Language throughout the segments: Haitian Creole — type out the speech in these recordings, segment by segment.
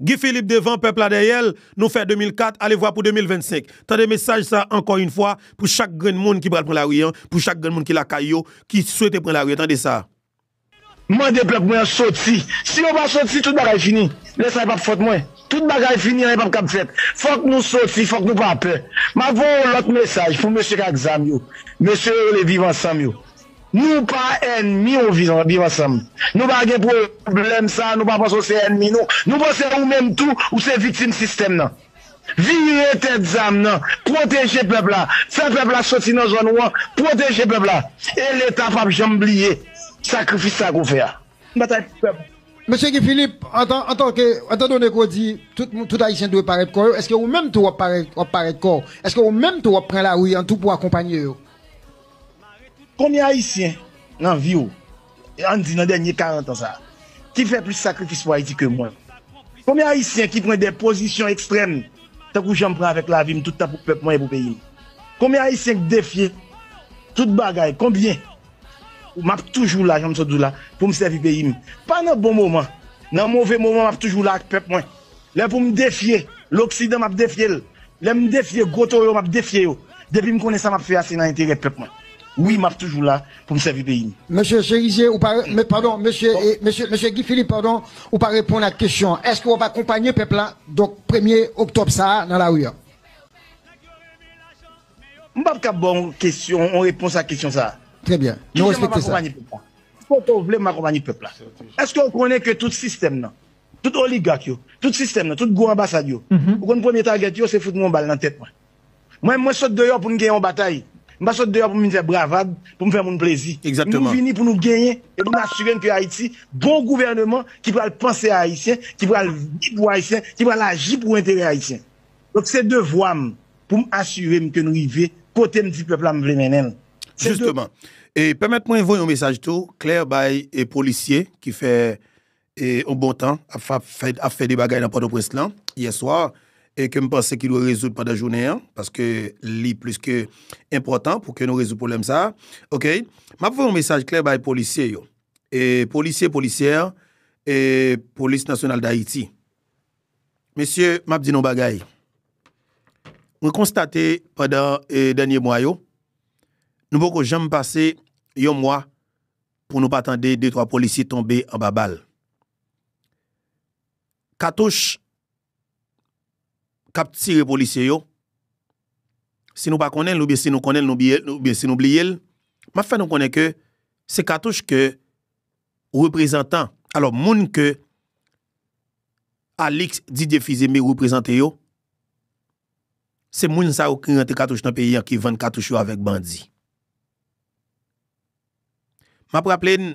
Guy Philippe devan pèp la dèyèl nou fè 2004 alevwa pou 2025 tande mesaj sa ankò yn fwa pou chak grenn moun ki pral pran lari an pou chak grenn moun ki lakay yo ki swete pran lari an tande sa. Mande pèp mwen an soti si yo pa soti tout bagay fini lè sa e pap fòt mwen tout bagay fini anyen pap kab fèt fòk nou soti fòk nou pa pè map voye yon lòt mesaj pou mesye k ak zam yo mesye yo rele viv ansanm yo Nou pa ènmi w vin viv ansanm nou pa gen pwoblèm sa nou pa panse w se ènmi nou nou panse ou menm tou ou se viktim sistèm nan vire tèt zam nan pwoteje pèp la fè pèp la soti nan zòn ou an pwoteje pèp la e leta pap janm bliye sakrifis sa ke w fè a nan batay pou pèp. Mesye Guy Philippe, etan done ke w di tout Ayisyen dwe parèt kò yo, eske ou menm tou w ap parèt kò w? Eske ou menm tou w ap pran lari an tou pou akonpanye yo? Konbyen ayisyen nan viw, ann di nan dènye 40 an sa, ki fè plis sakrifis pou Ayiti ke mwen? Konbyen ayisyen ki pran dè pozisyon ekstrèm tankou janm pran avèk lavim tout tan pou pèp mwen e pou peyim? Konbyen ayisyen k defye tout bagay, konbyen? Map toujou la janm sot di w la poum sèvi peyim, pa nan bon moman, nan move moman map toujou la ak pèp mwen. Lè pou m defye loksidan map defye l, lè m defye gwo toyo map defye yo, depi m konnen sa map fè a se nan enterè pèp mwen wi map toujou la pou m sèvi peyi m. Mesye Cherizier ou pa padon mesye mesye Guy Philippe padon ou pa reponn ak kesyon an eske wap akonpanye pèp la donk premye oktòb sa a nan lari an? M pap kab ba w yon kesyon yon repons ak kesyon sa a. Trè byen, nou respekte sa. Ki jan map akonpanye pèp la? Kote w vle m akonpanye pèp la? Eske w konnen ke tout sistèm nan Tout oligak yo, tout sistèm nan, tout gwo anbasad yo, ou konn premye tagèt yo, se fout mwen yon bal nan tèt mwen. Mwen, mwen sot deyò pou n gen yon batay. M pa sot deyò pou m vin fè bravad, pou m fè moun plezi. Nou vini pou nou genyen e pou n asire n ke Ayiti gon gouvèneman ki pral panse a Ayisyen, ki pral viv pou Ayisyen, ki pral aji pou enterè Ayisyen. Donk se devwa m pou m asire m ke n rive kote m di pèp la m vle mennen l. Jisteman. E pèmèt mwen voye yon mesaj tou klè bay polisye ki fè yon bon tan ap fè de bagay nan Pòtoprens lan yè swa e ke m panse ki dwe rezoud pandan jounen an paske li plis ke enpòtan pou ke nou rezoud pwoblèm sa a ok m ap voye yon mesaj klè bay polisye yo e polisye polisyè e polis nasyonal dayiti mesye m ap di nou yon bagay mwen konstate pandan dènye mwa yo nou poko janm pase yon mwa Pou nou pa tande de twa polisye tonbe anba bal. Katouch k ap tire polisye yo, si nou pa konnen l oubyen si nou konnen l oubyen si nou bliye l, m ap fè nou konnen ke se katouch ke reprezantan, alò moun ke Alix Didier Fils-Aimé reprezante yo, Se moun sa yo ki rantre katouch nan peyi an ki vann katouch yo avèk bandi. M ap raple n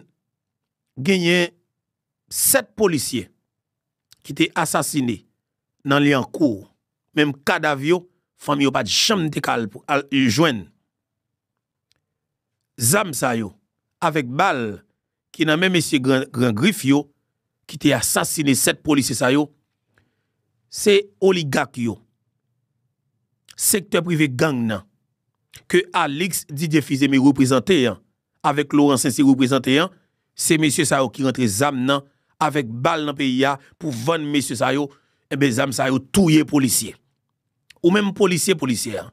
genyen 7 polisye ki te asasine nan Lyankou, menm kadav yo fanmi yo pa t janm te ka al jwenn. zam sa yo avèk bal ki nan men mesye gran grif yo ki te asasine 7 polisye sa yo se oligak yo sektè prive gang nan ke Alix Didier Fils-Aimé reprezante an avèk Laurent Saint-Cyr reprezante an se mesye sa yo ki rantre zam nan avèk bal nan peyi a pou vann mesye sa yo enben zam sa yo touye polisye ou menm polisye polisyè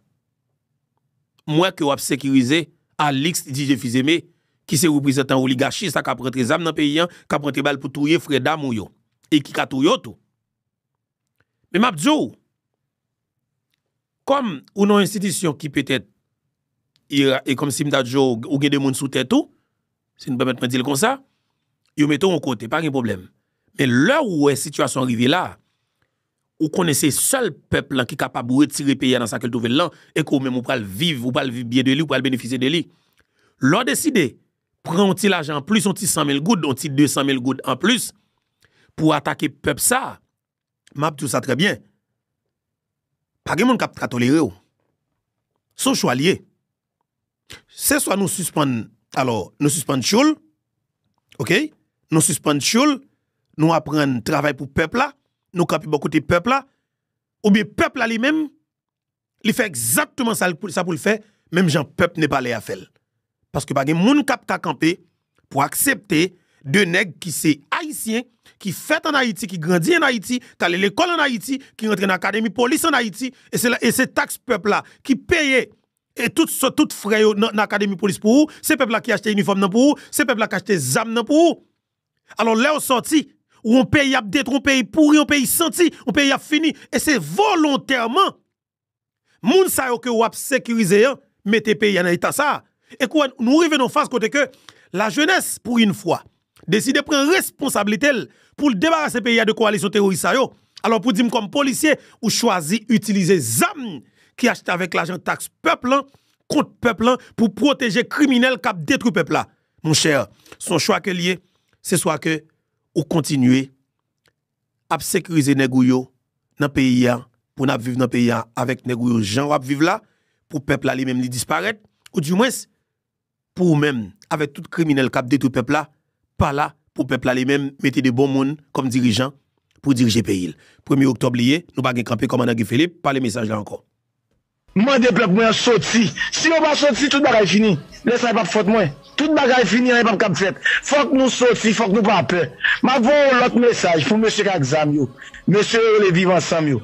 M wè ke w ap sekirize Alix Didier Fils-Aimé ki se reprezantan oligachi sa k ap rantre zam nan peyi an, k ap rantre bal pou touye frè dam ou yo e ki ka touye w tou. Men m ap di w, kòm ou nan yon enstitisyon ki petèt ira e kòm si m ta di w ou gen de moun sou tèt ou, si nou pèmèt mwen di l konsa, yo mete w yon kote, pa gen pwoblèm. Men lè ou wè sitiyasyon an rive la, Ou konnen se sèl pèp lan ki kapab retire peyi a nan sa ke l twouve l lan e ke ou menm ou pral viv, ou pral viv byen de li, ou pral benefisye de li. Lè w deside pran yon ti lajan an plis, yon ti san mil goud, yon ti de san mil goud an plis pou w atake pèp sa a, m ap di w sa trè byen, pa gen moun k ap ka tolere w. Se yon chwa l ye. Se swa nou sispann, alò, nou sispann tchoul, ok, nou sispann tchoul, nou aprann travay pou pèp la, nou kanpe bò kote pèp la, oubyen pèp la li menm, li fè egzatteman sa pou l fè, menm jan pèp Nepalè a fè l. Paske pa gen moun k ap ka kanpe pou aksepte 2 nèg ki se Ayisyen, ki fèt an Ayiti, ki grandi an Ayiti, k ale lekòl an Ayiti, ki rantre nan akademi polis an Ayiti, e se taks pèp la ki peye tout frè yo nan akademi polis pou ou, se pèp la ki achte inifòm nan pou ou, se pèp la k achte zam nan pou ou. Alò lè ou sòti, ou yon peyi ap detwi, yon peyi pouri, yon peyi santi, yon peyi ap fini, e se volontèman Moun sa yo ke wap sekirize an mete peyi a nan eta sa, e kou wè nou rive nan yon faz kote ke la jenès pou yn fwa deside pran responsablite l pou l debarase peyi a de kowalisyon teworis sa yo, alò pou di m kòm polisye ou chwazi itilize zam ki achte avèk lajan taks pèp lan kont pèp lan pou pwoteje kriminèl kap detwi pèp la monchè son chwa ke l ye se swa ke ou kontinye ap sekirize nèg ou yo nan peyi a pou nap viv nan peyi a avèk nèg ou yo jan wap viv la pou pèp la li menm li disparèt ou di mwens pou ou menm avèk tout kriminèl kap detwi pèp la pa la pou pèp la li menm mete de bon moun kòm dirijan pou dirije peyi l premye oktòb li ye nou pa gen kanpe kòmandan Guy Philippe pale mesaj la ankò. M mande pèp mwen an soti. Si yo pa soti, tout bagay fini. Lè sa a, e pap fòt mwen. Tout bagay fini, anyen pap kab fèt. Fòk nou soti, fòk nou pa pè. M ap voye yon lòt mesaj pou mesye k ak zam yo, mesye yo rele Viv Ansanm yo.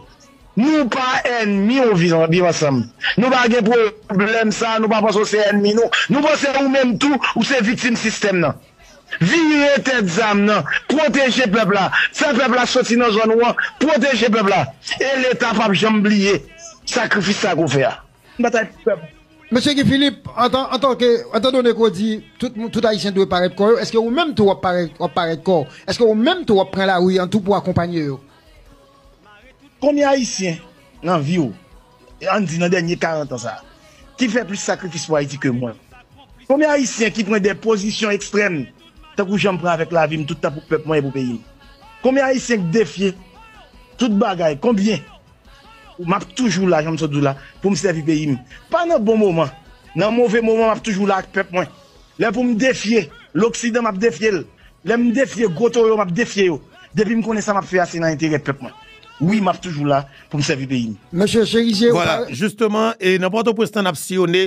Nou pa ènmi ou Viv Ansanm. Nou pa gen pwoblèm sa a, nou pa panse ou se ènmi nou. Nou panse ou menm tou, ou se viktim sistèm nan. Vire tèt zam nan, pwoteje pèp la, fè pèp la soti nan zòn ou an, pwoteje pèp la. E leta pap janm bliye sakrifis sa ke w fè a. N batay pou pèp. Mesye Guy Philippe, antanke, etandone ke w di tout Ayisyen dwe parèt kò yo, eske ou menm tou w ap parèt kò w? Eske ou menm tou w ap pran lari an tou pou akonpanye yo? Konbyen Ayisyen nan vi w Ann di nan dènye 40 an sa a, ki fè plis sakrifis pou Ayiti ke mwen? Konbyen Ayisyen ki pran de pozisyon ekstrèm tankou jan m pran avèk lavi m tout tan pou pèp mwen e pou peyi m? Konbyen Ayisyen k defye tout bagay? Konbyen? M ap toujou la, jan m sot di w la, pou m sèvi peyi m. Pa nan bon moman, nan move moman m ap toujou la ak pèp mwen. Lè pou m defye loksidan m ap defye l, lè m defye gwo toyo m ap defye yo, depi m konnen sa m ap fè a se nan enterè pèp mwen. Wi m ap toujou la pou m sèvi peyi m. Mesye Cherizier ou pare? Vwala, jisteman e nan Pòtoprens lan n ap siyone,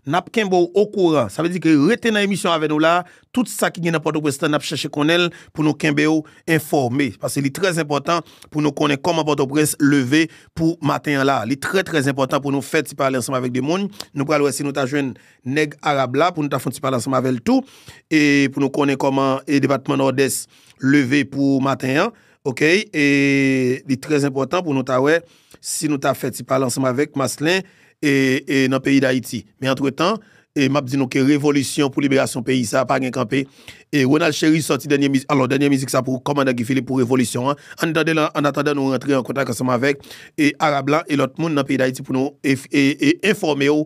n ap kenbe w okouran. Sa vle di ke rete nan emisyon avè nou la, tout sa ki gen nan Pòtoprens lan n ap chèche konnen l pou nou kenbe w enfòme. Pase li trè zenpòtan pou nou konnen kòman Pòtoprens leve pou maten an la. Li trè trè zenpòtan pou nou fè ti pale ansanm avèk de moun. Nou pral wè si nou ta jwenn nèg Arab la pou nou ta fon ti pale ansanm avèl tou e pou nou konnen kòman e depatman Nòdès leve pou maten an ok e li trè enpòtan pou nou ta wè si nou ta fè ti pale ansanm avèk Maslin e e nan peyi Dayiti men antretan e map di nou ke revolisyon pou liberasyon peyi sa pa gen kanpe e Ronald Chéry sòti dènye mizik alò dènye mizik sa pou kòmandan Guy Philippe pou revolisyon an ann tande l ann atandan nou rantre an kontak ansanm avèk e Arab la e lòt moun nan peyi Dayiti pou nou e e enfòme w.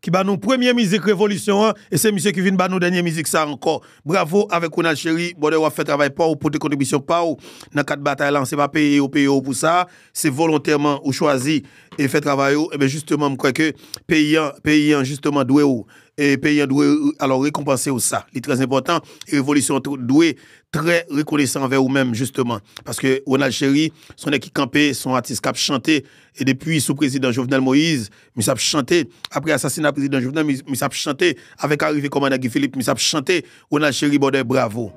ki ba nou premye mizik revolisyon an e se misye ki vin ba nou dènye mizik sa ankò. Bravo avèk Ronald Chéry, brother wap fè travay paw, ou pote kontribisyon paw nan kad batay lan, se pa peye yo peye w pou sa, se volontèman ou chwazi e fè travay ou, enben jisteman m kwè ke peyi an, peyi an jisteman dwe w, peyi an dwe alò rekonpanse w sa, li trè enpòtan e revolisyon an dwe trè rekonesan anvè ou menm jisteman, paske Ronald Chéry son nèg ki kanpe, son atis kap chante e depi sou prezidan Jovenel Moïse Misye ap chante apre asasina prezidan Jovenel misye ap chante avèk arive kòmandan Guy Philippe misye ap chante Ronald Chéribaudet bravo.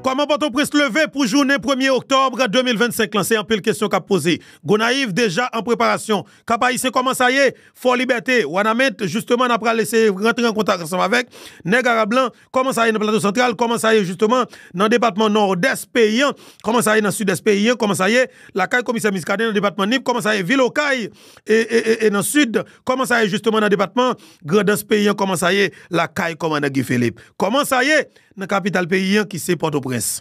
Kòman Pòtoprens leve pou jounen premye oktòb 2025 lan se anpil kesyon k ap poze. Gonayiv deja an preparasyon. Kap Ayisyen kòman sa ye? Fò Libète, Wanament jisteman n a pral eseye rantre an kontak ansanm avèk nèg arab lan Kòman sa ye nan Plato Santral? Kòman sa ye jisteman nan depatman Nòdès peyi an? Kòman sa ye nan Sidès peyi an? Kòman sa ye lakay komisè Miskaden nan depatman Nip? Kòman sa ye vil Okay e nan Sid? Kòman sa ye jisteman nan depatman Grandans peyi an? Kòman sa ye lakay kòmandan Guy Philippe? Kòman sa ye nan kapital peyi an ki se Pòtoprens?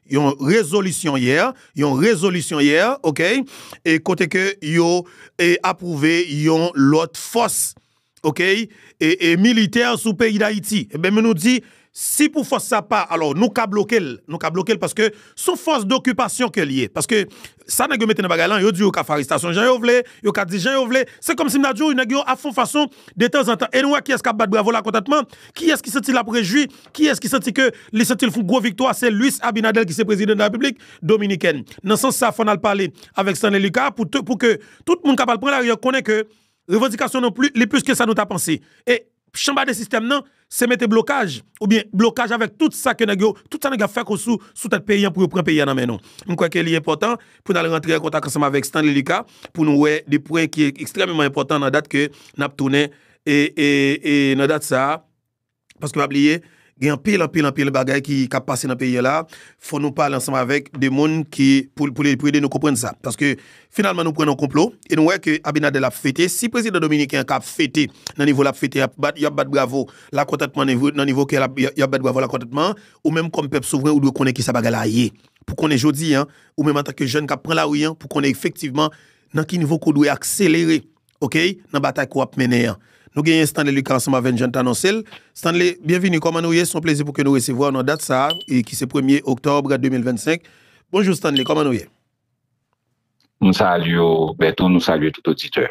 Yon rezolisyon yè, yon rezolisyon yè, ok, e kote ke yo e apwouve yon lòt fòs, ok, e e militè sou peyi Dayiti. Enben men nou di, si pou fòs sa pa, alò nou ka bloke l, nou ka bloke l paske son fòs dokipasyon ke l ye. Paske Sa nèg yo mete nan bagay lan, yo di yo ka fè arestasyon jan yo vle, yo ka di jan yo vle, se kòmsi m ta di w nèg yo ap fon fason detanzantan e nou wè kiyès k ap bat bravo la kontantman, kiyès ki santi l ap rejwi, kiyès ki santi ke li santi l fon gwo viktwa, se Luis Abinader ki se prezidan de la Repiblik Dominikèn. Nan sans sa fò n al pale avèk Stanley Lucas pou ke tout moun k ap al pran lari an konnen ke Revandikasyon nou pli li plis ke sa nou ta panse. E chanba de sistèm nan se mete blokaj oubyen blokaj avèk tout sa ke nèg yo, tout sa nèg yo ap fè ko sou sou tèt peyi an pou yo pran peyi an nan men nou. M kwè ke li enpòtan pou n al rantre an kontak ansanm avèk Stanley Lucas pou nou wè de pwen ki ekstrèmeman enpòtan nan dat ke n ap tounen e e e nan dat sa a. Paske pa bliye, gen anpil, anpil, anpil bagay ki ap pase nan peyi a la. Fò nou pale ansanm avèk de moun ki pou ede nou konprann sa. Paske finalman nou pran nan konplo e nou wè ke Abinader ap fete. Si prezidan dominiken an ka ap fete nan nivo l ap fete, y ap bat bravo lakontantman nan nivo ke y ap bat bravo lakontantman, ou menm kòm pèp souvren ou dwe konnen kisa bagay la ye. Pou konnen jodi a, ou menm antanke jèn k ap pran lari a, pou konnen efektivman nan ki nivo ke w dwe akselere. Ok nan batay ke wap mennen an. Nou genyen Stanley Lucas ansanm avè'n jan n t anonse l. Stanley, byenvini, kòman nou ye? S on plezi pou ke nou resevwa w nan dat sa a e ki se premye oktòb 2025. Bonjou Stanley, kòman nou ye? M salye w Bertho, nou salye tout oditè.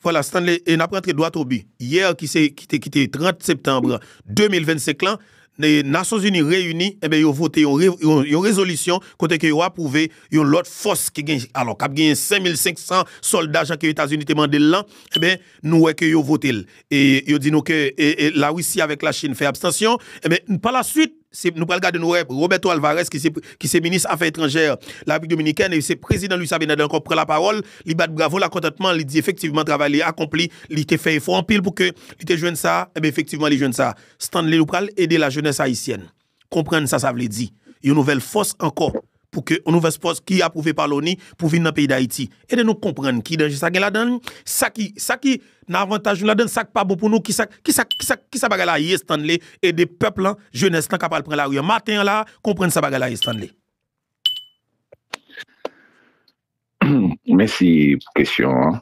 Vwala Stanley, e nap rantre dwat o bi. Yè ki se, ki te, ki te 30 septanbre 2025 lan, Nasyonzini reyini, enben yo vote yon rezolisyon kote ke yo apwouve yon lòt fòs ki gen, alò kap genyen 5500 sòlda jan ke Etazini te mande l lan, enben nou wè ke yo vote l. E yo di nou ke La Risi avèk La Chin fè abstansyon, enben pa la swit nou pral gade nou wè Roberto Alvarez ki se minis afè etranjè La Repiblik Dominikèn e se prezidan Luis Abinader ankò pran lapawòl, li bat bravo lakontantman, li di efektivman travay li akonpli, li te fè efò anpil pou ke li te jwenn sa, enben efektivman li jwenn sa. Stanley ou pral ede la jeunesse haïtienne konprann sa sa vle di yon nouvèl fòs ankò pou ke yon nouvès fòs ki apwouve pa loni pou vin nan peyi dayiti ede nou konprann ki danje sa gen ladann sa ki sa ki nan avantaj nou ladann sak pa bon pou nou kisa kisa kisa kisa bagay la ye Stanley ede pèp lan jeunesse lan ka pral pran lari an maten an la konprann sa bagay la ye Stanley. Mèsi pou kesyon an.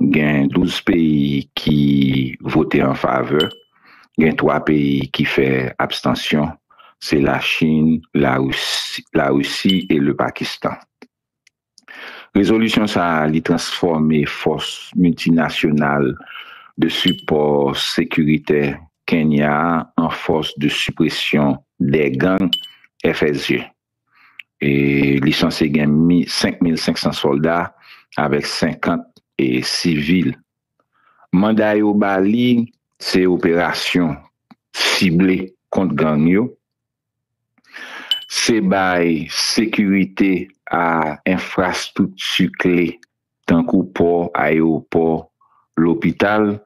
gen 12 peyi ki vote an favè, gen 3 peyi ki fè abstansyon, se la Chin, la Risi e le Pakistan. Rezolisyon sa a li transfòme fòs miltinasyonal de sipò sekiritè Kenya an fòs de sipresyon dè gang, FSG. e li sanse gen 5500 sòlda avèk 50 e sivil. Manda yo ba li se operasyon sible kont gang yo, se bay sekirite a enfrastrikti kle tankou pò, ayewopò, lopital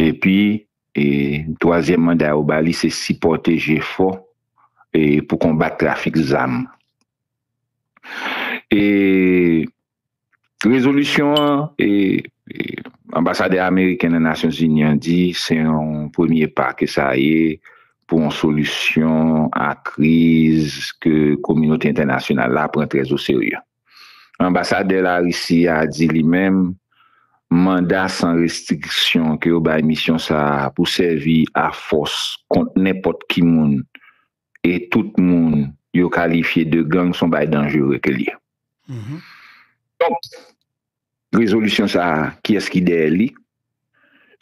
Epi, twazyèm manda yo ba li se sipòte jefò pou konbat trafik zam. Rezolisyon an, anbasadè ameriken nan Nasyonzini an di se yon premye pa ke sa ye pou yon solisyon a kriz ke kominote entènasyonal la pran trèzoserye. Anbasadè Larisi a di li menm manda san restriksyon ke yo bay misyon sa a pou sèvi a fòs kont nenpòt ki moun e tout moun yo kalifye de gang son bay danjere ke l ye. Donk, Rezolisyon sa a kiyès ki dèyè li?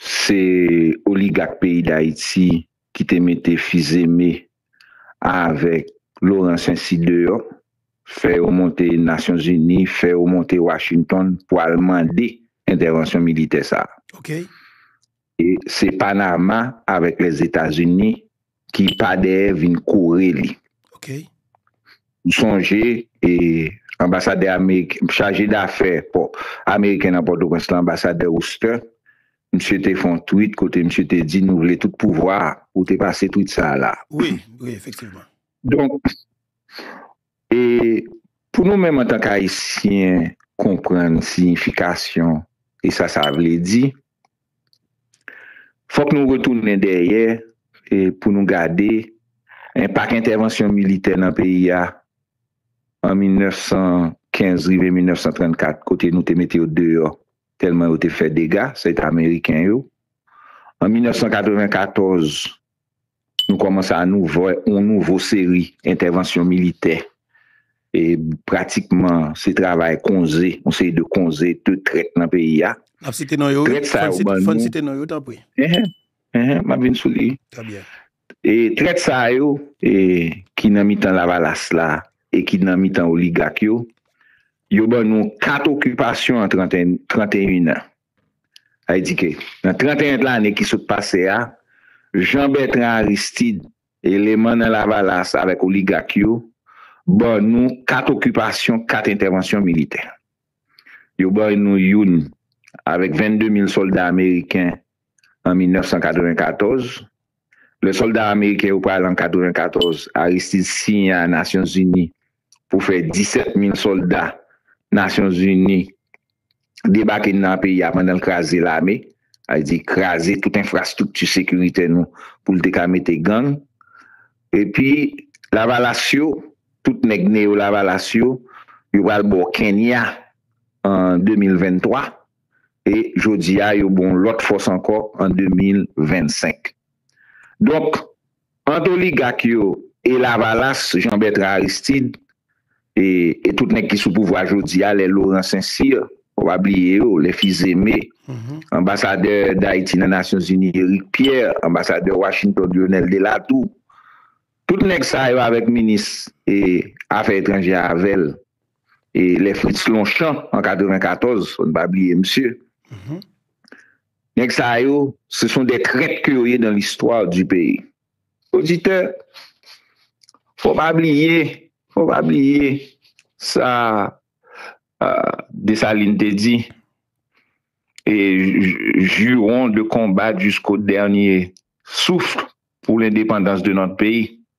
Se oligak peyi Dayiti ki te mete Fizeme avèk Loran Sensi deyò, fè yo monte Nasyon Zini, fè yo monte Washington pou al mande entèvansyon militè sa a. Se Panama avèk Lèzetazini ki pa dèyè vin kore li. Ou sonje anbasadè ameriken, chaje dafè ameriken nan Pòtoprens lan, anbasadè Oster, msye te fon twit kote msye te di nou vle tout pouvwa a. Ou te pase twit sa a la. Wi, wi, efektivman. Donk, E pou nou menm antank Ayisyen konprann siyifikasyon e sa sa vle di, fòk nou retounen dèyè pou nou gade enpak entèvansyon militè nan peyi a an 1915 rive 1934 kote nou te mete yo deyò tèlman yo te fè dega, sèt Ameriken yo, an 1994. Nou kòmanse a nou vè yon nouvo seri entèvansyon militè e pratikman se travay konze, yon seri de konze, de trèt nan peyi a. N ap site non yo wi, fò n site non yo tanpri. Enhen, m ap vin sou li. Trè byen. E trèt sa yo ki nan mitan lavalas la e ki nan mitan oligak yo, yo ban nou 4 okipasyon an 31 an. Ayiti ke, nan 31 lane ki sot pase a, Jean Bertrand Aristide, eleman nan Lavalas avèk oligak yo, ban nou 4 okipasyon, 4 entèvansyon militè. Yo bay nou youn avèk 22 mil sòlda ameriken an 1994. Lè sòlda ameriken yo pral an 94, Aristide siyen a Nasyonzini pou fè 17 mil solda nasyon zini debake nan peyi a pandan l kraze lame sa vle di kraze tout enfrastrikti sekiritè nou pou l te ka mete gang epi lavalas yo tout nèg neyo lavalas yo yo pral bo kenya an 2023 e jodi a yo bon lòt fòs ankò an 2025 donk Ant oligak yo e lavalas Jean Bertrand Aristide e tout nèg ki sou pouvwa jodi a lè Laurent Saint Cyr ou pa bliye yo lè Fils Aimé anbasadè Dayiti nan Nasyon Zini Eric Pierre anbasadè Washington Lyonel Delatour tout nèg sa yo avèk minis e afè etranjè avèl e lè Fritz Lonchan an 94 fò n pa bliye misye. Nèg sa yo, se son dè trèt ke yo ye dan listwa di peyi. Oditè, fò pa bliye, fò pa bliye sa Desalin te di, e jiron de konbat jisko dènye souf pou lendepandans de nòt peyi.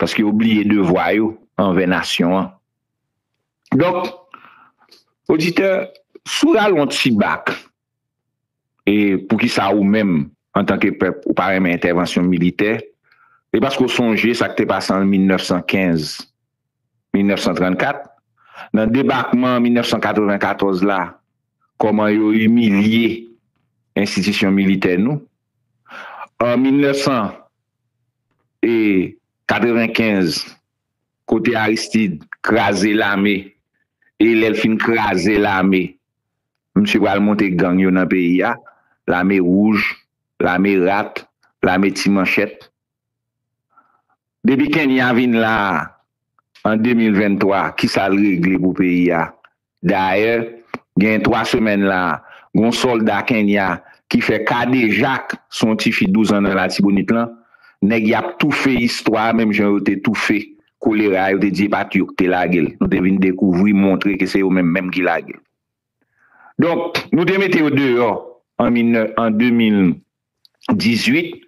Paske yo bliye devwa yo anvè nasyon an. Donk, oditè, si w rale yon ti bak, e poukisa ou menm, antanke pèp, ou pa renmen entèvansyon militè, e paske w sonje sa k te pase an 1915, 1934, nan debakman 1994 la, kòman yo imilye enstitisyon militè nou, an 1900. e 95 kote Aristide kraze lame e lèl fin kraze lame misye pral monte gang yo nan peyi a lame wouj lame rat lame ti manchèt depi Kenya vin la an 2023 kisal regle pou peyi a Dayè, gen 3 semèn la, gen yon sòlda Kenya ki fè kadejak sou yon tifi 12 an nan Latibonit lan. Nèg y ap toufe istwa a menm jan yo te toufe kolera a, yo te di e pa t yo ki te lage l. Nou te vin dekouvri, montre ke se yo menm menm ki lage l. Donk, nou te mete yo deyò an 2018.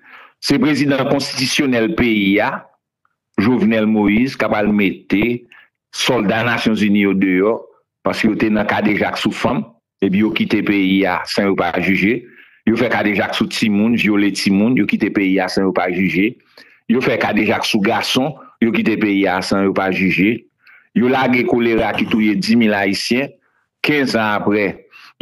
Se prezidan konstitisyonèl peyi a, Jovenel Moïse kap al mete solda nasyon zini yo deyò paske yo te nan kadejak sou fanm epi yo kite peyi a san yo pa jije yo fè kadejak sou timoun vyole timoun yo kite peyi a san yo pa jije yo fè kadejak sou gason yo kite peyi a san yo pa jije yo lage kolera ki touye 10 mil ayisyen 15 an apre,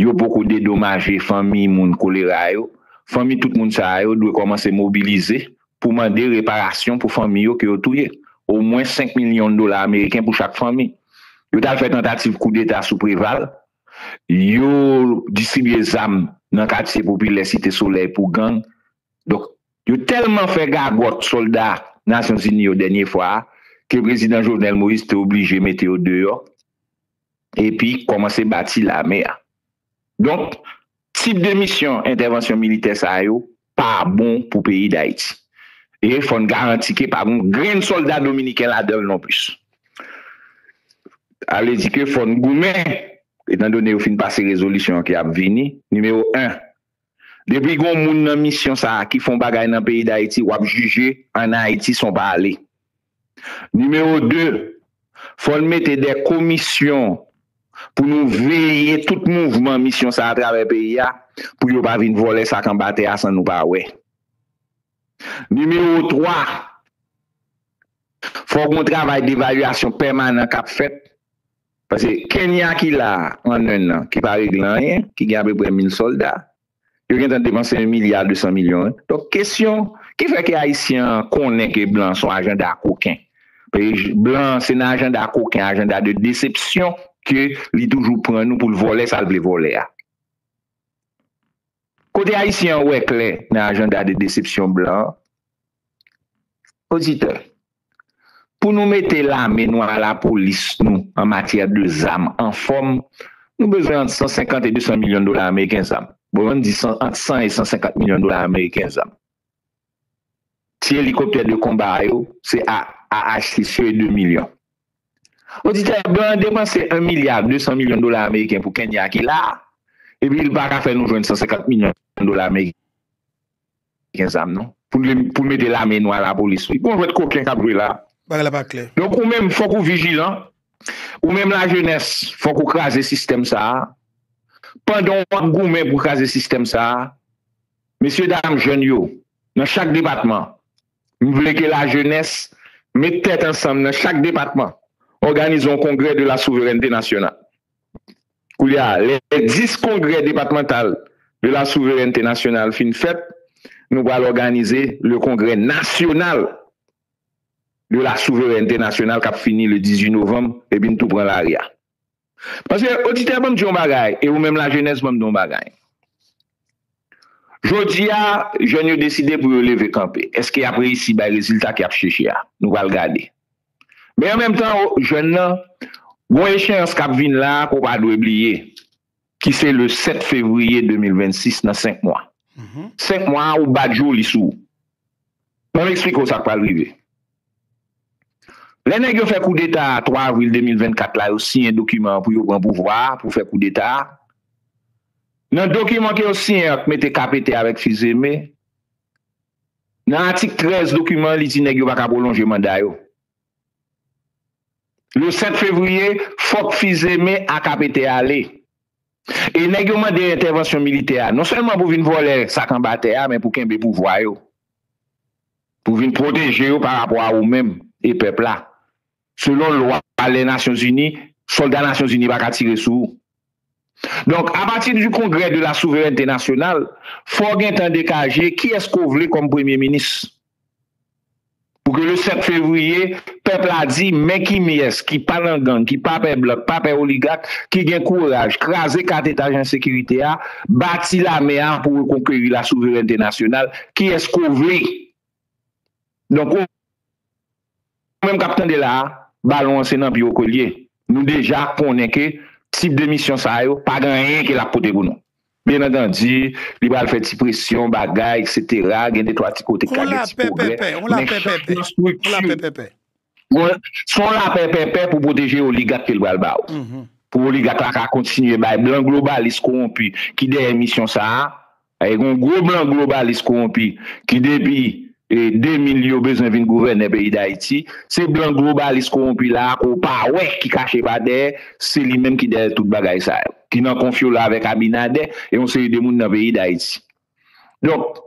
yo poko dedomaje fanmi moun kolera yo, fanmi tout moun sa yo dwe kòmanse mobilize pou mande reparasyon pou fanmi yo ke yo touye, omwen 5 milyon dola ameriken pou chak fanmi. Yo t al fè tantativ koudeta sou Preval, yo distribye zam nan katye popilè Site Solèy pou gang. Donk, yo tèlman fè gagòt sòlda Nasyonzini yo dènye fwa a ke Prezidan Jovenel Moïse te oblije mete yo deyò. epi kòmanse bati lame a. Donk, tip de misyon entèvansyon militè sa yo pa bon pou peyi Dayiti. E fò n garanti ke pa gon grenn sòlda dominiken ladan l nonplis. Sa vle di ke fò n goumen, etandone yo fin pase rezolisyon ki ap vini, nimewo 1, Depi gon moun nan misyon sa ki fon bagay nan peyi dayiti wap jije an ayiti son pa ale nimewo 2 fòn mete dè komisyon pou nou veye tout mouvman misyon sa atravè peyi a pou yo pa vin vòlè sak anba tè a san nou pa wè nimewo 3 fò gon travay devalyasyon pèmanan kap fèt Pase Kenya ki la an 1 nan, ki pa regle anyen, ki gen apeprè 1000 solda, yo gen tan depanse 1 milya 200 milyon wi. Donk kesyon ki fè ke Ayisyen an konnen ke blan son ajanda koken. Pase blan se nan ajanda koken, ajanda de desepsyon ke li toujou pran nou pou l vòlè sa l vle vòlè a. Kote Ayisyen an wè klè nan ajanda de desepsyon blan an? Oditè, pou nou mete lame nou a lapolis nou an matyè de zam anfòm, nou bezwen ant 150 e 200 milyon dola ameriken zam. Bon, ann di ant 100 e 150 milyon dola ameriken zam. Ti elikoptè de konba a yo, se AH-6 yo e 2 milyon. Oditè, blan an depanse 1 milya 200 milyon dola ameriken pou Kenya ki la a, epi l pa ka fè nou jwenn 150 milyon dola ameriken zam non, pou l mete lame nou a lapolis wi. Gon jwèt koken k ap jwe la a. Bagay la pa klè. Donk ou menm, fòk ou vijilan. Ou menm lajenès, fòk ou kraze sistèm sa a. Pandan w ap goumen pou kraze sistèm sa a, Mesye dam jèn yo nan chak depatman, m vle ke lajenès met tèt ansanm nan chak depatman, òganize yon kongrè de la souverènte nasyonal. Koulye a, lè 10 kongrè depatmantal de la souverènte nasyonal fin fèt, nou pral òganize le kongrè nasyonal de la souverènte nasyonal k ap fini le 18 novanm epi n tou pran lari a. Paske oditè banm di yon bagay e ou menm lajenès banm di yon bagay. Jodi a jèn yo deside pou yo leve kanpe. Eske yap reyisi bay rezilta ke yap cheche a? Nou pral gade. Men an menm tan jèn nan gon echeyans kap vin la ke ou pa dwe bliye. ki se le 7 fevriye 2026 nan 5 mwa. 5 mwa a ou bat jou li sou ou. Ban m eksplike w sa k pral rive. Lè nèg yo fè koudeta a 3 avril 2024 la yo siyen dokiman an pou yo pran pouvwa a pou fè koudeta a. Nan dokiman ke yo siyen an k mete KPT avèk Fils-Aimé, nan atik 13 dokiman an li di nèg yo pa ka pwolonje manda yo. Le 7 fevriye, fòk Fils-Aimé ak APT ale. E nèg yo mande entèvansyon militè a, non sèlman pou vin vòlè sak anba tè a men pou kenbe pouvwa yo. Pou vin pwoteje yo parapò a ou menm e pèp la. Selon lwa lè Nasyonzini, sòlda Nasyonzini pa ka tire sou ou. Donk, apati du Congrès de la Souveraineté Nationale, fò w gentan dekaje kiyès ke w vle kòm Premye Minis. Pou ke le 7 fevriye, pèp la di, men kimyès ki pa nan gang, ki pa pè blan, ki pa pè oligak, ki gen kouraj kraze kat etaj ensekirite a, bati lame a pou rekonkeri la souverènte nasyonal, kiyès ko vle. Donk. Nou menm k ap tande la a, balon an se nan pye w ke l ye. Nou deja konnen ke tip de misyon sa yo pa gen anyen ke l ap pote pou nou. Byennantandi, li pral fè ti presyon, bagay, eksetera, gen de twa ti kote k ka gen ti pwogrè, men chak nan estrikti, se yon lapè pèpè pou pwoteje oligak ke l pral ba ou. Pou oligak la ka kontinye bay blan globalis kowonpi ki dèyè misyon sa a, Ay gen yon gwo blan globalis kowonpi ki depi 2000 yo bezwen vin gouvènè peyi dayiti, se blan globalis kowonpi la ke w pa wè ki kache pa dèyè, se li menm ki dèyè tout bagay sa yo, ki nan konfyola avèk abinadè e yon seri de moun nan peyi dayiti. Donk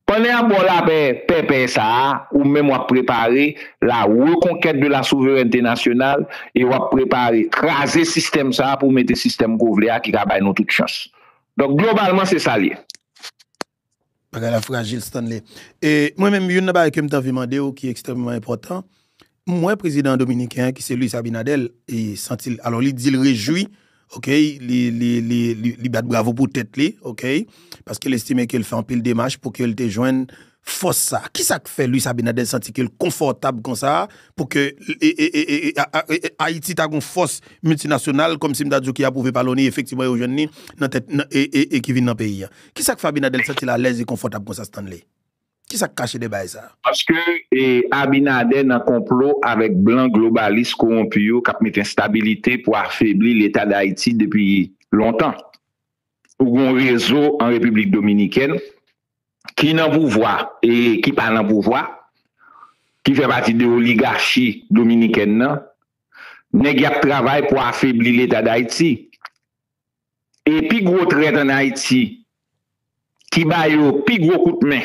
pandan y ap ba w lapè pèpè sa a, ou menm w ap prepare la reconquête de la souveraineté nationale e w ap prepare kraze sistèm sa a pou w mete sistèm ke w vle a ki ka bay nou tout chans. Donk globalman se sa l ye. Bagay la frajil Stanley. E mwen menm youn nan bagay ke m te anvi mande w ki ekstrèmeman enpòtan, m wè prezidan dominiken an ki se Luis Abinader e santi l alò li di l rejwi ok li li li li bat bravo pou tèt li ok paske l estime ke l fè anpil demach pou ke l te jwenn fòs sa a? Kisa k fè Luis Abinader santi ke l konfòtab konsa a pou ke Ayiti ta gon fòs miltinasyonal kòm si m ta di w ki apwouve pa loni efektivman yo jwenn ni nan tèt e ki vin nan peyi a? Kisa k fè Abinader l santi l alèz e konfòtab konsa Stanley? Kisa k kache dèyè bagay sa a? Paske Abinader nan konplo avèk blan globalis kowonpi yo k ap mete enstabilite pou afebli leta Dayiti depi lontan. Ou gen yon rezo an Repiblik Dominikèn ki nan pouvwa e ki pa nan pouvwa, ki fè pati de oligachi dominikèn nan, nèg y ap travay pou afebli leta Dayiti. E pi gwo trèt ann Ayiti, ki ba yo pi gwo kout men,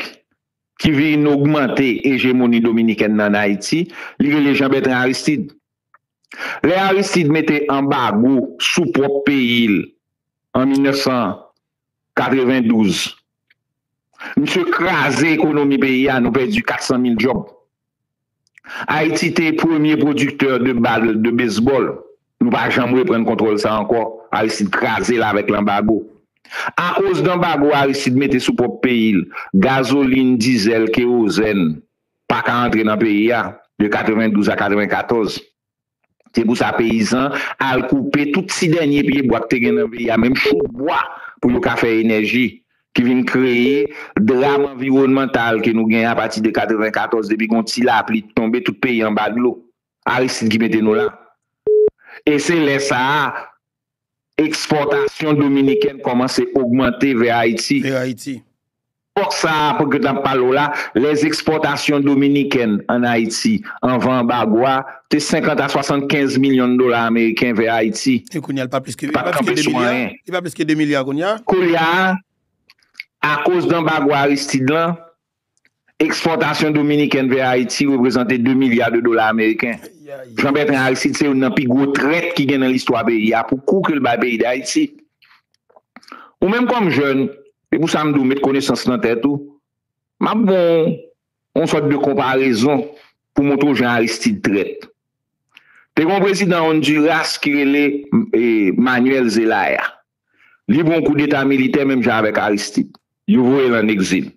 ki vin ogmante ejemoni dominikèn nan ann Ayiti, li rele Jean Bertrand Aristide. Lè Aristide mete anbago sou pwòp peyi l an 1900, 92. Misye kraze ekonomi peyi a, nou pèdi 400 mil djòb. Ayiti te premye pwodiktè de bal de bezbòl, nou pa janm reprann kontwòl sa ankò, Aristide kraze l avèk lanbago. Akoz danbago Aristide mete sou pwòp peyi l, gazolin, dizèl, kewozèn pa ka antre nan peyi a de 92 a 94. Se pou sa peyizan al koupe tout ti dènye pye bwa k te gen nan peyi a, menm chouk bwa pou yo ka fè enèji ki vin kreye dram anviwònmantal ke nou gen apati de 94 depi gon ti lapli t tonbe tout peyi anba dlo. Aristide ki mete nou la. E se lè sa a Ekspòtasyon dominikèn kòmanse ogmante vè Ayiti. Epòk sa a ke n ap pale w la, lè ekspòtasyon dominikèn ann Ayiti anvan anbago a te 50 a 75 milyon dola ameriken vè Ayiti, li pa t kanpe sou anyen. Koulye a, akoz de anbago Aristide lan, Ekspòtasyon Dominikèn vè Ayiti reprezante 2 milya de dola ameriken. Jean Bertrand Aristide se youn nan pi gwo trèt ki gen nan listwa peyi a pou kou ke l bay peyi Dayiti. Ou menm kòm jèn, se pou sa m di w met konesans nan tèt ou, m ap ban w yon sòt de konparezon pou montre w jan Aristide trèt. Te gen yon prezidan Honduras ki rele Manuel Zelaya. Li pran yon koudeta militè menm jan avèk Aristide. Yo voye l ann egzil.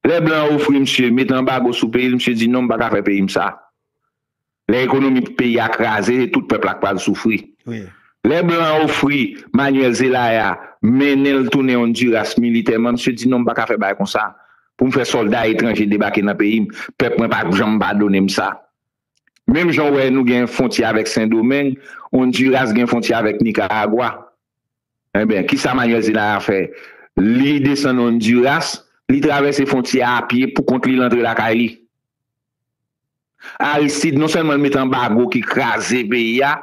Lè blan an ofri misye met anbago sou peyi l, misye di non m pa ka fè peyi m sa. Lè ekonomi peyi a kraze se tout pèp la k pral soufri. Lè blan an ofri Manuel Zelaya mennen l tounen Honduras militèman, misye di non m pa ka fè bagay konsa pou m fè sòlda etranje debake nan peyi m. Pèp mwen pa p janm padone m sa. Menm jan w wè nou gen fontyè avèk Sendomeng, Ondiras gen fontyè avèk Nikaragwa. Enben, ki sa Manyèl Zelaya fè? Li desann Ondiras, li travèse fontyè a apye pou kont li, l antre lakay li. Aristid, non sèlman l met anbago ki kraze peyi a,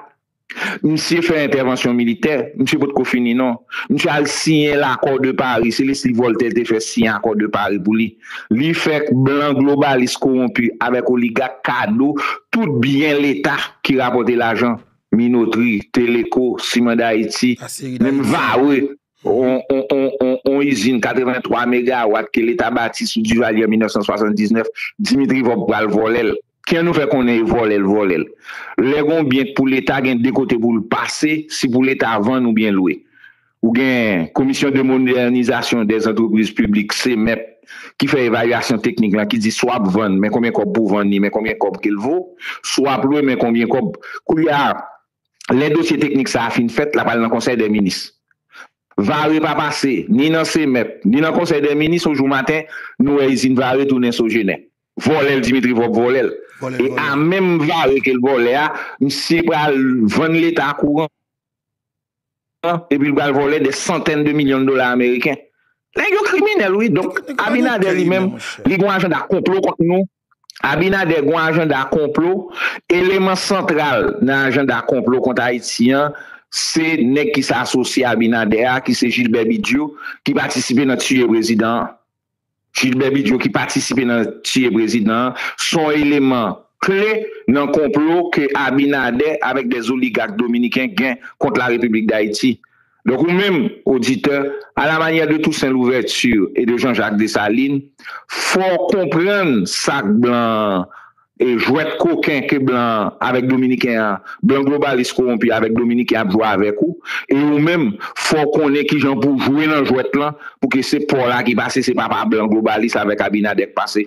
Misye fè entèvansyon militè, misye potko fini non. Misye al siyen L'accord de Paris, se lespri Voltaire te fè siyen Accord de Paris pou li. Li fè blan globalis kowonpi avèk oligak kado tout byen leta ki rapòte lajan, Minotri, Teleco, Ciment d'Haïti, menm Varreux, on izin 83 megawat ke leta bati sou Duvalier an 1979, Dimitri Vorbe pral vòlè l. Kiyè nou fè konnen e vòlè l vòlè l. Lè gon byen k pou leta gen 2 kote pou l pase si pou leta vann ou byen lwe. Ou gen komisyon de modènizasyon dè zantrepriz piblik, CMEP, ki fè evalyasyon teknik lan ki di swa p vann men konbyen kòb pou vann li men konbyen kòb ke l vo, swa p lwe men konbyen kòb. Koulye a lè dosye teknik sa a fin fèt l ap al nan konsèy dè minis. Vare pa pase ni nan CMEP ni nan konsèy dè minis yon jou maten nou wè izin vare tounen sogener. Vòlèl Dimitri vòb vòlèl e a menm vare kel vòlè a misye pral vann leta kouran an epil pral vòlè dè santèn de milyon de dola ameriken nèg yo kriminèl wi donk abinader li menm li gon ajanda konplo kont nou abinader gon ajanda konplo eleman santral nan ajanda konplo kont ayiti an se nèg ki se asosye abinader a ki se jilbè bidyou ki patisipe nan tiye prezidan an. Gilbert Bigio ki patisipe nan tiye prezidan an son eleman kle nan konplo ke Abinader avèk des oligak dominiken gen kont la Repiblik Dayiti. Donk ou menm, oditè, a la manyè de Toussaint Louverture e de Jean Jacques Dessalines, fò w konprann sak blan E jwèt koken ke blan an avèk dominiken an, blan globalis kowonpi avèk dominiken ap jwe avèk ou, e ou menm fò w konnen kijan pou w jwe nan jwèt lan pou ke se pa w la ki pase, se pa pa blan globalis avèk Abinader k pase.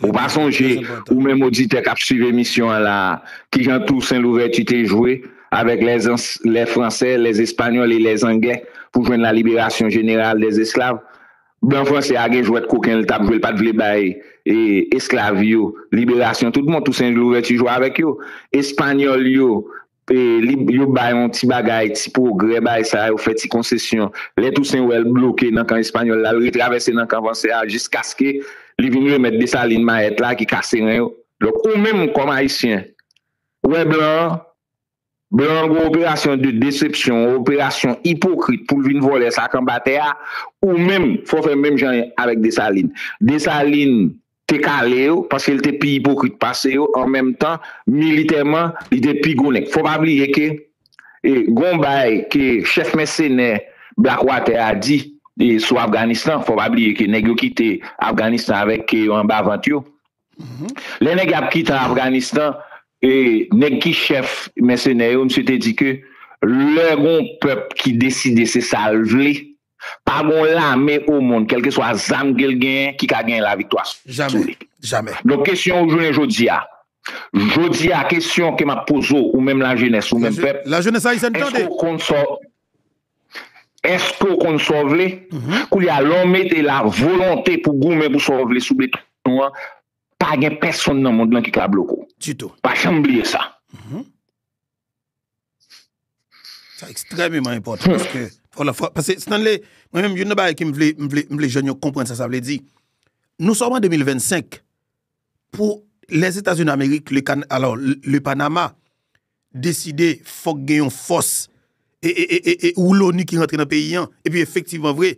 Ou pa sonje, ou menm oditè k ap swiv emisyon an la a, kijan Tousen Louvèti te jwe avèk lè ans, lè fransè, lè espanyòl e lè anglè pou jwenn la liberasyon jeneral dè esklav? Blan franse a gen jwèt koken l t ap jwe l pa t vle bay esklav yo liberasyon tout bon Tousen Louvèti jwe avèk yo Espanyòl yo yo bay yon ti bagay ti pwogrè bay sa yo fè ti konsesyon lè Tousen wè l bloke nan kan espanyòl la l retravèse nan kan franse a jiskaske li vin remèt Desalin mayèt la ki kase ren yo donk ou menm kòm ayisyen wè blan an Blan an gwo operasyon de desepsyon, yon operasyon ipokrit pou l vin vòlè sa k anba tè a, ou menm fò w fè menm jan avèk Desalin. Desalin te kale yo paske l te pi ipokrit pase yo, an menm tan militèman li te pi gwo nèg. Fò w pa bliye ke gen yon bagay ke chèf mèsenè Blackwater a di sou Afganistan, fò w pa bliye ke nèg yo kite Afganistan avèk ke yo anba vant yo. Lè nèg ap kite an Afganistan, nèg ki chèf mèsenè yo, misye te di ke lè gon pèp ki deside se sa l vle, pa gon lame omond, kèlkeswa zam ke l genyen, ki ka genyen laviktwa sou li. Donk kesyon ou jounen jodi a, jodi a kesyon ke m ap poze w, ou menm lajenès, ou menm pèp, èske w konn sa w. Eske w konn sa w vle? Koulye a, lè w mete la volonte pou goumen pou sa w vle sou beton an, pa gen pèsonn nan mond lan ki ka bloke w. Ditou. Pa janm bliye sa. Sa ekstrèmeman enpòtan paske, paske Stanley, mwen menm youn nan bagay ke m vle, m vle, m vle jèn yo konprann sa sa vle di. Nou sòm an 2025, pou Lèzetazini Amerik, le Kan, alò, le Panama, deside fòk gen yon fòs ou loni ki rantre nan peyi an, epi efektivman vre,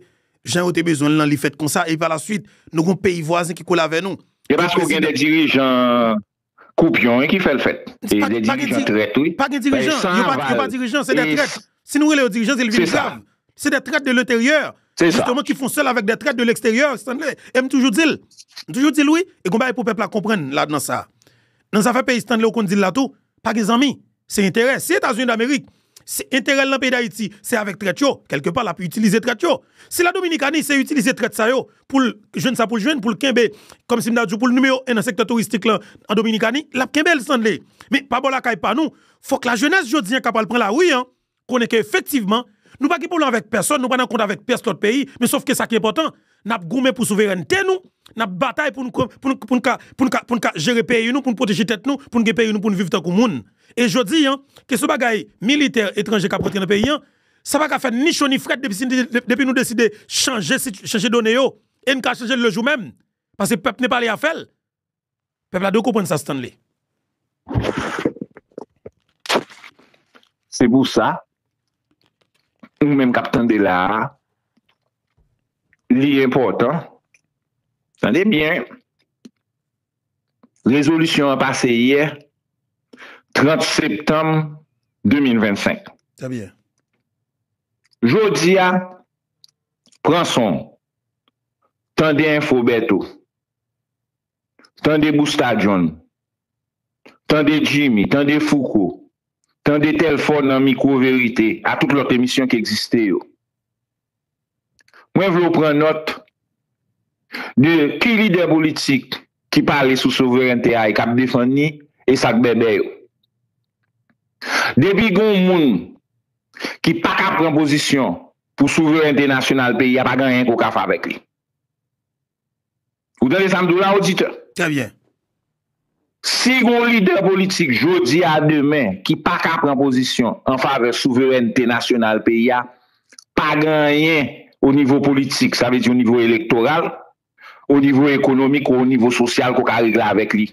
jan yo te bezwen l lan li fèt konsa, epi palaswit nou gen yon peyi vwazen ki kole avè nou. Se paske w gen de dirijan koupyon wi ki fè l fèt. E de dirijan trèt wi. Pa gen dirijan, yo pa dirijan, se de trèt. Si nou rele yo dirijan se li vin grav. Se de trèt de leteryè, jisteman ki fon sèl avèk de trèt de leksteryè, Stanley. E m toujou di l, m toujou di l wi, e gen yon bagay pou pèp la konprann ladan sa. Nan zafè peyi Stanley ou konn dil la tou pa gen zanmi se enterè si etazini damerik se enterèl nan peyi dayiti se avèk trèt yo kèlke pa lap itilize trèt yo si la dominikani se itilize trèt sa yo poul jwenn sa poul jwenn poul kenbe kòmsi m ta diw poul nimewo 1 nan sektè touristik lan an dominikani lap kenbel Stanley men pa bò lakay pa nou fòk la jenès jodi an ka pral pran lari an konnen ke efektivman, nou pa gen pwoblèm avèk pèsòn, nou pa nan kont avèk pyès lòt peyi, men sof ke sa ki enpòtan, n ap goumen pou souverènte nou, n ap batay pou nou ka jere peyi nou, pou nou pwoteje tèt nou, pou nou gen peyi nou, pou nou viv tankou moun. E jodi an, kesyon bagay militè etranje k ap rantre nan peyi an, sa pa ka fè ni cho ni frèt depi nou deside chanje done yo, e n ka chanje l lejou menm, paske pèp nepal e afè l. Pèp la dwe konprann sa Stanley. Se pou sa, ou menm k ap tande la a, li enpòtan, tande byen, rezolisyon an pase yè, 30 septanm 2025. Trè byen. Jodi a, pran son w, tande enfo Bertho, Tande Busta John, tande Jimmy, tande Fouco, tande Telfort nan Mikwo Verite a tout lòt emisyon ki egziste yo. Mwen vle w pran nòt de ki lidè politik ki pale sou souverènte a e k ap defann ni e sa k bèbè yo. Depi gen yon moun ki pa ka pran pozisyon pou souverènte nasyonal peyi a pa gen anyen ke w ka fè avèk li. Ou tande sa m di w la oditè? Trè byen. Si gon lidè politik jodi a demen ki pa ka pran pozisyon an favè souverènte nasyonal peyi a, pa gen anyen o nivo politik, sa vle di o nivo elektoral, o nivo ekonomik ou o nivo sosyal ke w ka regle avèk li.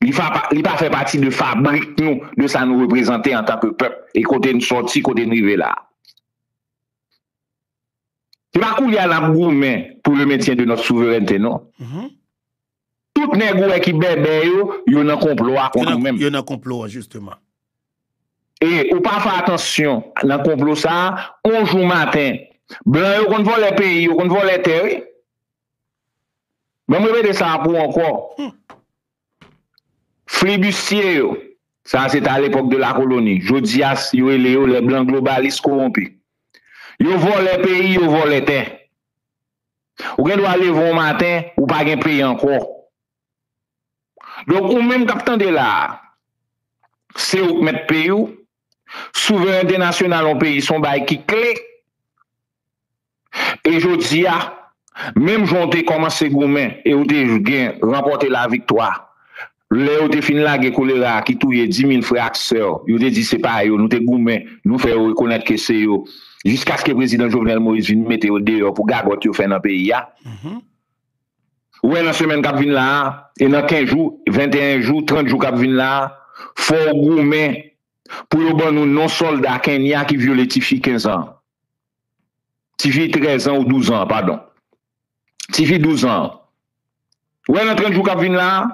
Li fa pa, li pa fè pati de fabrik nou, de sa nou reprezante antan ke pèp e kote n sòti, kote n rive la a. Se pa koulye a nap goumen pou le mentyen de nòt souverènte non. Mm-hmm. Tout nèg ou wè ki bèbè yo, yo nan konplo a kont ou menm. Yo nan konplo a jisteman. E ou pa fè atansyon nan konplo sa, on jou maten, blan yo konn vòlè peyi, yo konn vòlè tè wi. Banm repete sa a pou ou ankò. Hmm. Flibistye yo, sa a se te alepòk de lakoloni, jodi a yo rele yo lè blan globalis kowonpi. Yo vòlè peyi, yo vòlè tè. Ou gen dwa leve yon maten, ou pa gen peyi ankò. Donk ou menm k ap tande la a, se ou k mèt peyi w, souverènte nasyonal yon peyi se yon bagay ki kle. E jodi a, menm jan w te kòmanse goumen e w te gen ranpòte laviktwa, lè yo te fin lage kolera a ki touye dimil frè ak sè, yo te di se pa yo, nou te goumen, nou fè yo rekonèt ke se yo, jiskaske Prezidan Jovenel Moïse vin mete yo deyò pou gagòt yo fè nan peyi a. Ou wè nan semèn k ap vin la a, e nan kenz jou, venteyen jou, trant jou k ap vin la a, fò w goumen pou yo ban nou non sòlda Kenya ki vyole tifi kenzan. Ti fi 13 ans ou 12 ans pardon. Ti fi 12 ans an. Ou wè nan 30 jou kap vin la a,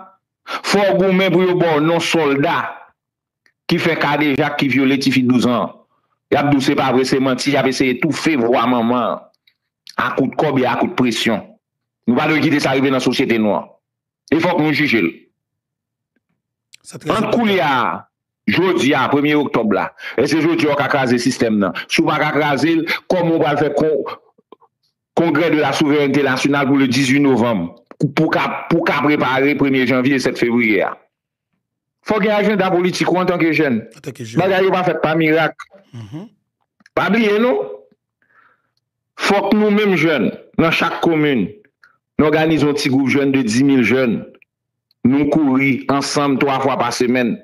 fò ou goumen pou yo ba w non sòlda ki fè kadejak, ki vyole ti fi 12 ans. Yap di w se pa vre, se manti, yap eseye toufe vwa manman an a kout kòb e a kout presyon. Nou pa dwe kite sa rive nan sosyete nou an. e fòk nou jije l. Ant koulye a, jodi a, premye oktòb la, èske jodi a ou ka kraze sistèm nan? Si ou pa ka kraze l, kòman ou pral fè kongrè de la souverènte nasyonal pou le 18 novanm pou w ka prepare premye janvye e 7 fevriye a? Fòk gen ajenda politik ou antanke jèn. Bagay yo pa fèt pa mirak. Mm-hmm. Pa bliye non, fòk nou menm jèn nan chak komin, nou òganize yon ti gwoup jèn de 10 mil jèn, nou kouri ansanm 3 fwa pa semèn.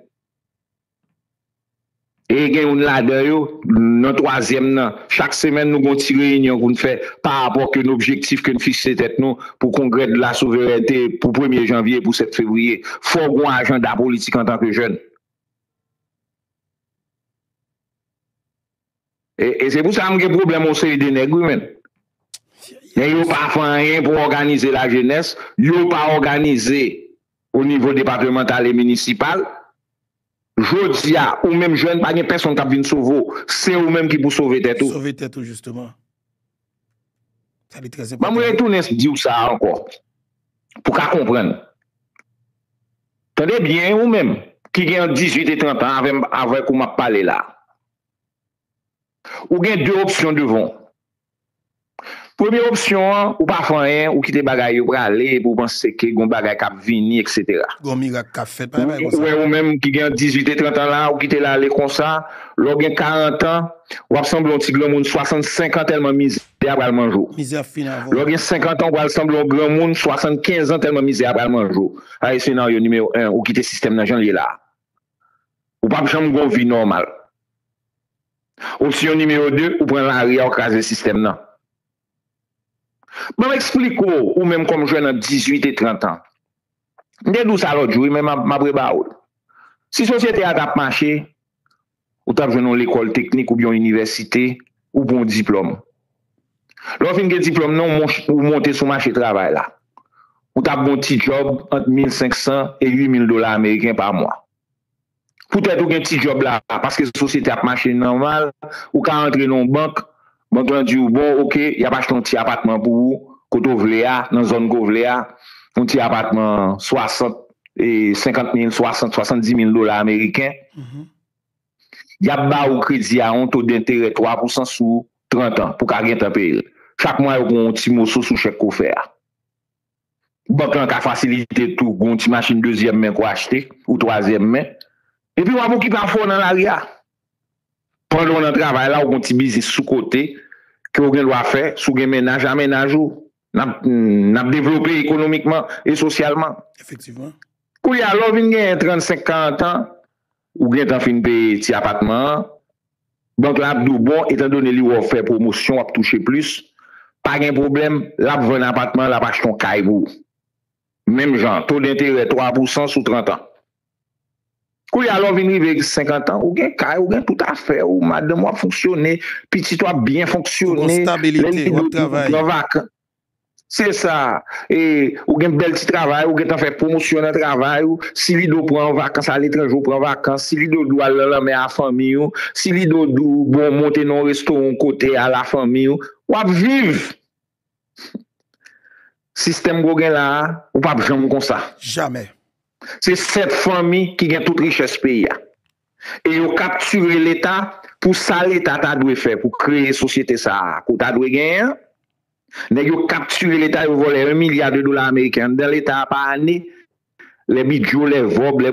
E gen youn ladan yo, nan twazyèm nan. Chak semèn nou gen yon ti reyinyon pou n fè pa rapò ak youn objektif ke n fikse tèt nou pou Kongrè de la Souveraineté pou premye janvye e pou 7 fevriye. Fò w gen yon ajanda politik antanke jèn. E se pou sa m gen pwoblèm yon seri de nèg wi menn. Men yo pa fè anyen pou òganize la jenès, yo pa òganize o nivo depatemantal e minisipal. Jodi a, ou menm jèn pa gen pèsonn k ap vin sove w, se ou menm ki pou sove tèt ou. Sove tèt ou jisteman. Sa li trèzenpòtan. Ban m retounen di w sa ankò pou w ka konprann. Tande byen ou menm ki gen ant 18 e 30 an avè m avèk ou m ap pale la. Ou gen 2 opsyon devan w. Premye opsyon an, ou pa fè anyen, ou kite bagay yo prale epi ou panse ke gon bagay k ap vini eksetera. Gon mirak k ap fèt, pa gen bagay konsa. Ou wè ou menm ki gen ant 18 e 30 an la, ou kite l ale konsa, lè w gen 40 an, w ap sanble yon ti granmoun 65 an tèlman mizè a pral manje w. Mizè ap fin avè w. Lè w gen 50 an, ou pral sanble yon granmoun 75 an tèlman mizè a pral manje w. Sa se senaryo nimewo 1, ou kite sistèm nan jan l ye la a. ou pap janm gon vi nòmal. Opsyon nimewo 2, ou pran lari a ou kraze sistèm nan. Banm eksplike w, ou menm kòm jwèn ant 18 e 30 an. M te di w sa lòt jou wi men map rebawoul. Si sosyete a tap mache, ou t ap jwenn yon lekòl teknik oubyen yon inivèsite, ou pran yon diplòm. Lè w fin gen diplòm nan w, ou monte sou mache travay la. Ou t ap gen yon ti djòb ant 1500 e 8000 dola ameriken pa mwa. Poutèt ou gen ti djòb la, paske sosyete a ap mache nòmal, ou ka antre nan yon bank Bank lan di ou bon ok yap achte yon ti apatman pou ou kote ou vle a nan zòn ke w vle a, yon ti apatman 60 e 50 mil 60, 70 mil dola ameriken, yap ba ou kredi a yon to denterè 3 pousan sou 30 an pou ka gentan peye l. Chak mwa yo pran yon ti moso sou chèk ke w fè a. Bank lan ka fasilite tou g'on ti machin dezyèm men k'w achte ou twazyèm men. Epi w'ap okipe afè w nan lari a. Pandan w nan travay la ou g'on ti biznis sou kote ke w gen dwa fè, si w gen mennaj a mennaj ou. N'ap devlope ekonomikman e sosyalman. Efektivman. Koulye a lè w vin genyen 35, 40 an. Ou gentan fin peye ti apatman an, bank lan ap di w bon etandone li wè w fè pwomosyon w ap touche plis, pa gen pwoblèm, l ap vann apatman an, l ap achte yon kay pou ou. Menm jan, to denterè 3 pousan sou 30 an. Koulye a lè w vin rive 50 an, ou gen kay, ou gen tout afè ou, madanm ou ap fonksyone, pitit ou ap byen fonksyone, lè li dwe pou ou pran vakan. Se sa, e ou gen bèl ti travay, ou gentan fè pwomosyon nan travay ou, si li do pran vakans ale etranje ou pran vakans, si li do di w al nan lanmè a fanmi ou, si li do di w bon monte nan yon restoran yon kote al a fanmi ou, w ap viv! Sistèm ke w gen la a, ou p ap janm konsa. Jamè! Se 7 fanmi ki gen tout richès peyi a. E yo kaptire leta pou sa leta ta dwe fè pou kreye sosyete sa a ke w ta dwe genyen an. Nèg yo kaptire leta, yo vòlè 1 milya de dola ameriken anndan leta a pa ane. Lè bidyo, lè vòb, lè.